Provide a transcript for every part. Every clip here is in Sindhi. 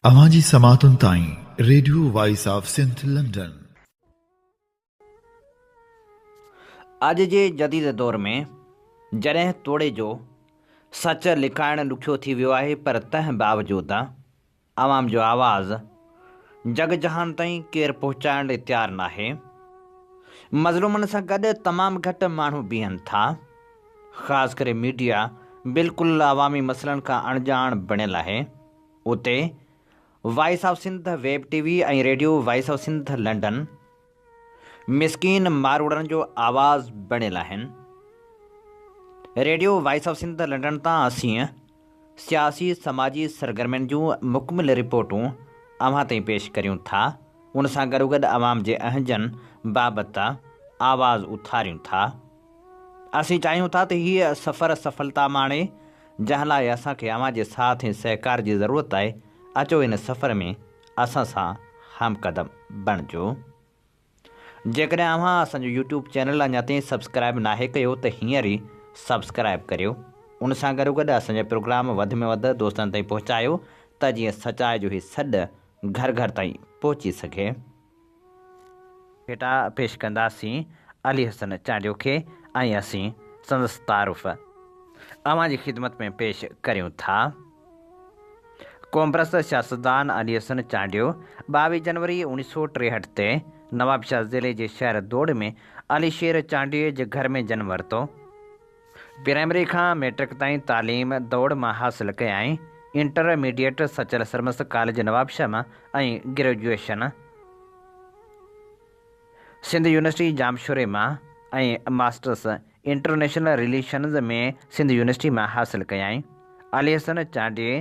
اوهان جي سماعتن تائين radio voice of Sindh London. اڄ جي جديد دور ۾ جڏهن توڙي جو سچ لڪائڻ ڏکيو ٿي ويو آهي پر تنهن باوجود. عوام جو آواز جڳ جهان تائين ڪير پهچائڻ لئي تيار ناهي. مظلومن سان گڏ تمام گهٽ ماڻهو بيهن ٿا. خاص ڪري ميڊيا بلڪل عوامي مسئلن کان اڻڄاڻ بڻيل آهي. اتي voice of Sindh web T V ۽ radio voice of Sindh London مسڪين ماروئڙن جو آواز بڻيل آهن. Radio voice of Sindh London تان اسين سياسي سماجي سرگرمين جون مڪمل رپورٽون اوهان تائين پيش ڪريون ٿا ان سان گڏوگڏ عوام جي اهنجن بابت آواز اٿاريون ٿا اسين چاهيون ٿا ته هي سفر سڦلتا ماڻي جنهن لاء اسان کي اوهان جي ساٿ ۽ سهڪار جي ضرورت آهي اچو ان سفر ۾ اسان سان هم قدم بڻجو جيڪڏهن اوهان اسان جو يوٽيوب چينل اڃا تائين سبسڪرائب ناهي ڪيو ته هينئر ئي سبسڪرائب ڪريو ان سان گڏو گڏ اسان جا پروگرام وڌ ۾ وڌ دوستن تائين پهچايو ته جيئن سچائي جو هي سڏ گهر گهر تائين پهچي سگهي. ڀيٽا پيش ڪنداسين علي حسن چانڊيو کي ۽ اسين سندس تعارف اوهان جي خدمت ۾ پيش ڪريون ٿا. قومپرست سياستدان علي حسن چانڊيو ٻاويهه جنوري اوڻيهه سؤ ٽيهٺ تي نوابشاهه ضلعي جي شهر دوڙ ۾ علي شير چانڊيوي جي گهر ۾ جنم ورتو. پرائمري کان مئٽرڪ تائين تعليم دوڙ مان حاصل ڪيائين. Inter Sachal Sarmast college Nawabshah مان ۽ گريجوئيشن سنڌ يونيورسٽي ڄامشوري مان ۽ masters international relations ۾ Sindh university مان حاصل ڪيائين. علي حسن چانڊيي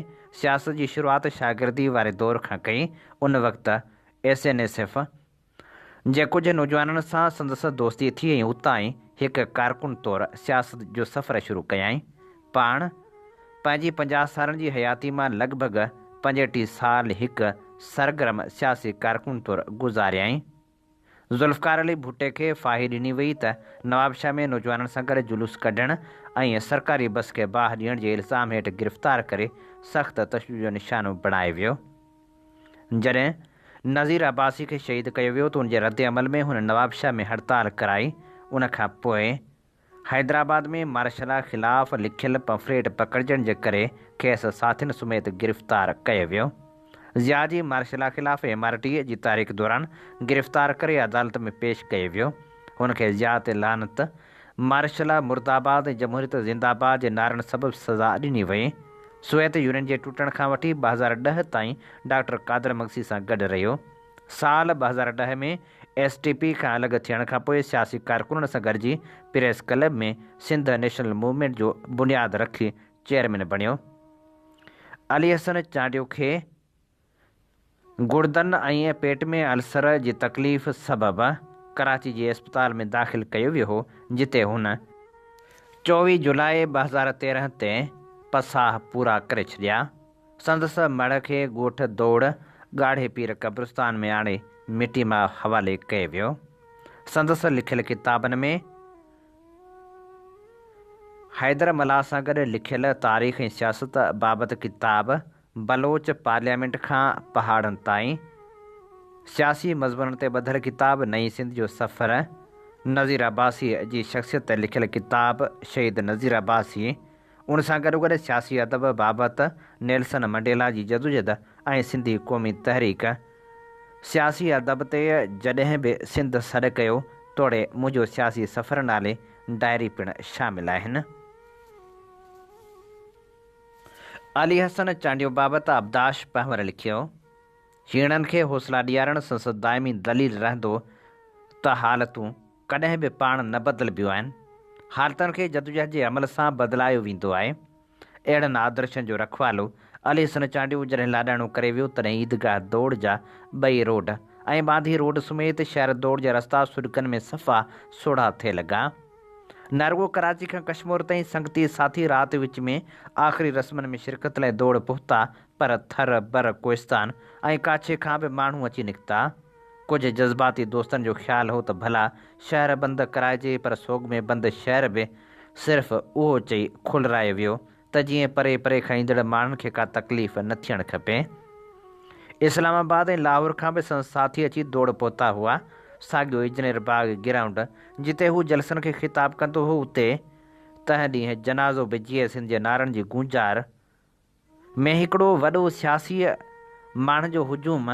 سياست جي شروعات شاگردي واري دور کان ڪئي. ان وقت ايس اين ايس ايف. جي ڪجهه نوجوانن سان سندس دوستي ٿي ۽ اتان ئي هڪ ڪارڪن طور سياست جو سفر شروع ڪيائين. پاڻ پنهنجي پنجاهه سالن جي حياتي مان لڳ ڀڳ پنجهٽيهه سال هڪ سرگرم سياسي ڪارڪن طور گذاريائين. ذوالفقار علي ڀٽي کي ڦاهي ڏني وئي ته نوابشاهه ۾ نوجوانن سان گڏ جلوس ڪڍڻ ۽ سرڪاري بس کي باهه ڏيڻ جي الزام هيٺ گرفتار ڪري سخت تشدد جو نشانو بڻائي ويو. جڏهن نذير عباسي کي شهيد ڪيو ويو ته ان جي ردعمل ۾ هن نوابشاهه ۾ هڙتال ڪرائي ان کان پوء حيدرآباد ۾ مارشلا خلاف لکيل پمفليٽ پڪڙجڻ جي ڪري کيس ساٿين سميت گرفتار ڪيو ويو ضياء جي مارشلا خلاف ايم آر ڊي اي جي تحريڪ دوران گرفتار ڪري عدالت ۾ پيش ڪيو ويو هن کي ضياء تي لعنت مارشل لا مرد آباد ۽ جمهوريت زنده باد جي نعرن سبب سزا ڏني وئي. سوويت يونين جي ٽٽڻ کان وٺي ٻه هزار ڏهه تائين ڊاڪٽر قادر مگسي سان گڏ رهيو. سال ٻه هزار ڏهه ۾ ايس ٽي پي کان الڳ ٿيڻ کان پوء سياسي ڪارڪنن سان گڏجي press club ۾ Sindh national movement جو بنياد رکي چيئرمين بڻيو. علي حسن چانڊيو کي گڙدن ۽ پيٽ ۾ السر جي تڪليف سبب ڪراچي جي اسپتال ۾ داخل ڪيو ويو هو جتي هن چوويهه جولاء ٻه هزار تيرهن تي پساهه پورا ڪري ڇڏيا. سندس مڙهه کي ڳوٺ دوڙ ڳاڙهي پير قبرستان ۾ آڻي مٽي ماء حوالي ڪيو ويو. سندس لکيل ڪتابن ۾ حيدر ملاح سان گڏ لکيل تاريخ ۽ سياست بابت ڪتاب بلوچ پارليامينٽ کان پهاڙن تائين سياسي مضمونن تي ٻڌل ڪتاب نئين سنڌ جو سفر، نظير عباسيء جي شخصيت تي لکيل ڪتاب شهيد نظير عباسي، ان سان گڏوگڏ سياسي ادب بابت نيلسن منڊيلا جي جدوجھد ۽ سنڌي قومي تحريڪ. سياسي ادب تي جڏهن به سنڌ سڏ ڪيو توڙي منهنجو سياسي سفر نالي ڊائري پڻ شامل آهن. علي حسن چانڊيو بابت آبداش پنهور لکيو، هيڻن کي حوصلا ڏيارڻ سندس دائمي دليل رهندو ته حالتون ڪڏهن به پاڻ نه بدلبيون آهن، حالتن کي جدوجهد جي عمل سان بدلايو ويندو آهي. اهڙن آدرشن جو رکوالو علي حسن چانڊيو جڏهن لاڏاڻو ڪري ويو تڏهن عيدگاهه دوڙ جا ٻئي روڊ ۽ ٻانڌي روڊ سميت شهر دوڙ جا رستا سڏڪن ۾ صفا سوڙها ٿئي لڳا. نه رڳو ڪراچي کان ڪشمور تائين سنگتي ساٿي رات وچ ۾ آخري رسمن ۾ شرڪت لاء ڊوڙ پهتا پر ٿر، بر، ڪوهستان ۽ ڪاڇي کان به ماڻهو اچي نڪتا. ڪجهه جذباتي دوستن جو خيال هو ته ڀلا شهر بند ڪرائجي پر سوڳ ۾ بند شهر به صرف اهو چئي کولرائي ويو ته جيئن پري پري کان ايندڙ ماڻهن کي ڪا تڪليف نه ٿيڻ کپي. اسلام آباد ۽ لاهور کان به سندس ساٿي اچي ڊوڙ پهتا هئا. ساڳيو اجنير باغ گرائونڊ جتي هو جلسن کي خطاب ڪندو هو اتي تنهن ڏينهن جنازو به جيئي سنڌ جي نعرن جي گونجار ۾ هڪڙو وڏو سياسي ماڻهن جو هجوم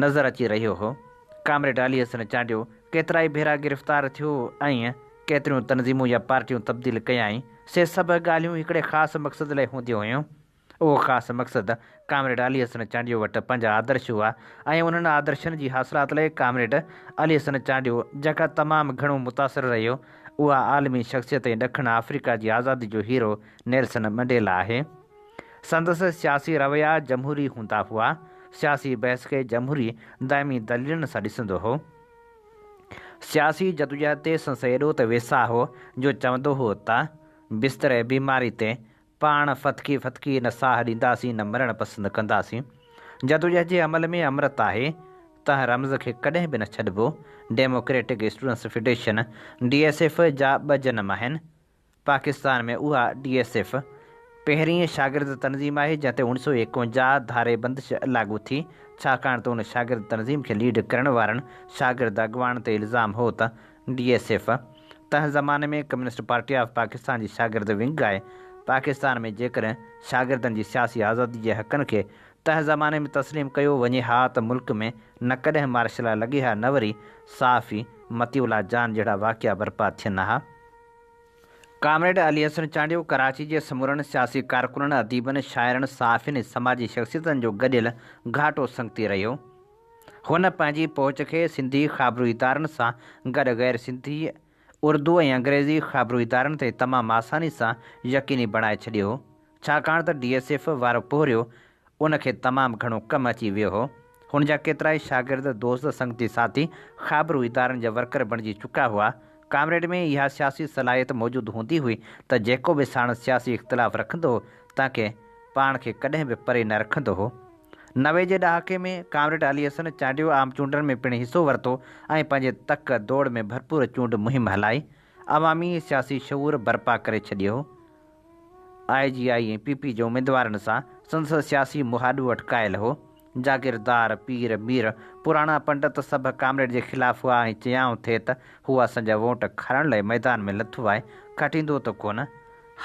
نظر اچي رهيو هو. ڪامريڊ علي حسن چانڊيو ڪيترائي ڀيرا گرفتار ٿيو ۽ ڪيتريون تنظيمون يا پارٽيون تبديل ڪيائين، سي سڀ ڳالهيون هڪڙي خاص مقصد لئه هونديون هيون. اهو خاص مقصد ڪامريڊ علي حسن چانڊيو وٽ پنج آدرش هئا ۽ انهن آدرشن جي حاصلات لئه ڪامريڊ علي حسن چانڊيو جيڪا تمام گهڻو متاثر رهيو اها عالمي شخصيت ۽ ڏکڻ آفريڪا جي آزادي جو هيرو نيلسن منڊيلا آهي. سندس سياسي رويا جمهوري هوندا هئا، سياسي بحث کي جمهوري دائمي دليلن سان ڏسندو هو. سياسي جدوجهد تي سندس ايڏو ته ويساهه هو جو چوندو هو ته بستري بيماري تي پاڻ ڦٿڪي ڦٿڪي نه ساهه ڏينداسين نه مرڻ پسند ڪنداسين. جدوجهد جي عمل ۾ امرت آهي تنهن رمز کي ڪڏهن به نه ڇڏبو. Democratic students federation, D S F, جا ٻه جنم آهن. پاڪستان ۾ اها ڊي ايس ايف پهرين شاگرد تنظيم آهي جنهن تي اڻ سو ايڪونجاهه ڌاري بندش لاڳو ٿي ڇاڪاڻ ته ان شاگرد تنظيم کي ليڊ ڪرڻ وارن شاگرد اڳواڻن تي الزام هو ته ڊي ايس ايف تنهن زماني ۾ ڪميونسٽ پارٽي آف پاڪستان جي شاگرد ونگ آهي پاڪستان ۾ جيڪڏهن شاگردن جي سياسي آزادي جي حقن کي تنهن زماني ۾ تسليم ڪيو وڃي ها ته ملڪ ۾ نه ڪڏهن مارشلا لڳي ها نه وري صحافي مطيع الله جان جهڙا واقعا برپا ٿين ها. ڪامريڊ علي حسن چانڊيو ڪراچي جي سمورن سياسي ڪارڪنن، اديبن، شاعرن، صحافين ۽ سماجي شخصيتن جو گڏيل گهاٽو سنگتي رهيو. هن پنهنجي پهچ کي سنڌي خابرو ادارن سان گڏ غير سنڌي، اردو ۽ انگريزي خابرو ادارن تي تمام آساني سان يقيني بڻائي ڇڏيو، ڇاڪاڻ ته ڊي ايس ايف وارو پورهيو ان کي تمام گهڻو ڪم اچي ويو هو. هن جا ڪيترائي شاگرد، دوست، سنگتي ساٿي خابرو ادارن جا ورڪر بڻجي چڪا هئا. ڪامريڊ ۾ اها سياسي صلاحيت موجود هوندي هئي ته جيڪو به ساڻس سياسي اختلاف رکندو هو تنهن کي پاڻ کي ڪڏهن به پري نه رکندو هو. نوي جي ڏهاڪي ۾ ڪامريڊ علي حسن چانڊيو عام چونڊن ۾ پڻ حصو ورتو ۽ پنهنجي تڪ دوڙ ۾ ڀرپور چونڊ مهم هلائي عوامي سياسي شعور برپا ڪري ڇڏيو هو. I J I ۽ P P جي اميدوارن سان سندس سياسي مهاڏو اٽڪايل هو. جاگيردار، پير، مير، پراڻا پنڊت سڀ ڪامريڊ جي خلاف هئا ۽ چيائون ٿي ته هو اسان جا ووٽ کڻڻ لاء ميدان ۾ لٿو آهي، کٽيندو ته ڪونه؟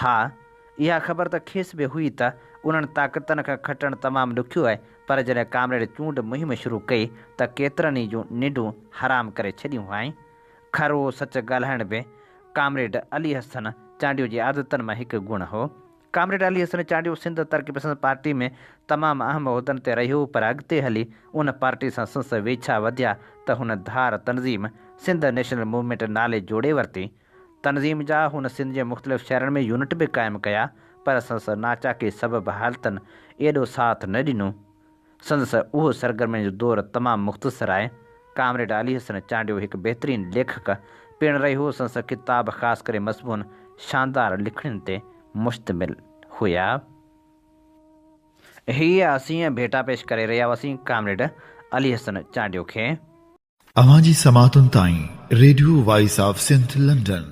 ها، اها خبر ته کيس به هئي ته انهن طاقتن کان کٽڻ تمام ڏکيو آهي پر جڏهن ڪامريڊ چونڊ مهم شروع ڪئي ته ڪيترن ئي جون ننڊون حرام ڪري ڇڏيون هئائين. کروء سچ ڳالهائڻ به ڪامريڊ علي حسن چانڊيو جي عادتن مان هڪ گڻ هو. ڪامريڊ علي حسن چانڊيو سنڌ ترقي پسند پارٽي ۾ تمام اهم عهدن تي رهيو پر اڳتي هلي ان پارٽي سان سنس ويڇا وڌيا ته هن ڌار تنظيم سنڌ نيشنل موومينٽ نالي جوڙي ورتي. تنظيم جا هن سنڌ جي مختلف شهرن ۾ يونٽ به قائم ڪيا پر سنس ناچاڪي سبب حالتن ايڏو ساٿ نه ڏنو سندس اهو سرگرمين جو دور تمام مختصر آهي. ڪامريڊ علي حسن چانڊيو هڪ بهترين ليکڪ پڻ رهيو. سندس ڪتاب خاص ڪري مضمون شاندار لکڻين تي مشتمل هيا. هيء اسين ڀيٽا پيش ڪري رهيا هئاسين ڪامريڊ علي حسن چانڊيو کي. اوهان جي سماعتن تائين radio voice of Sindh London.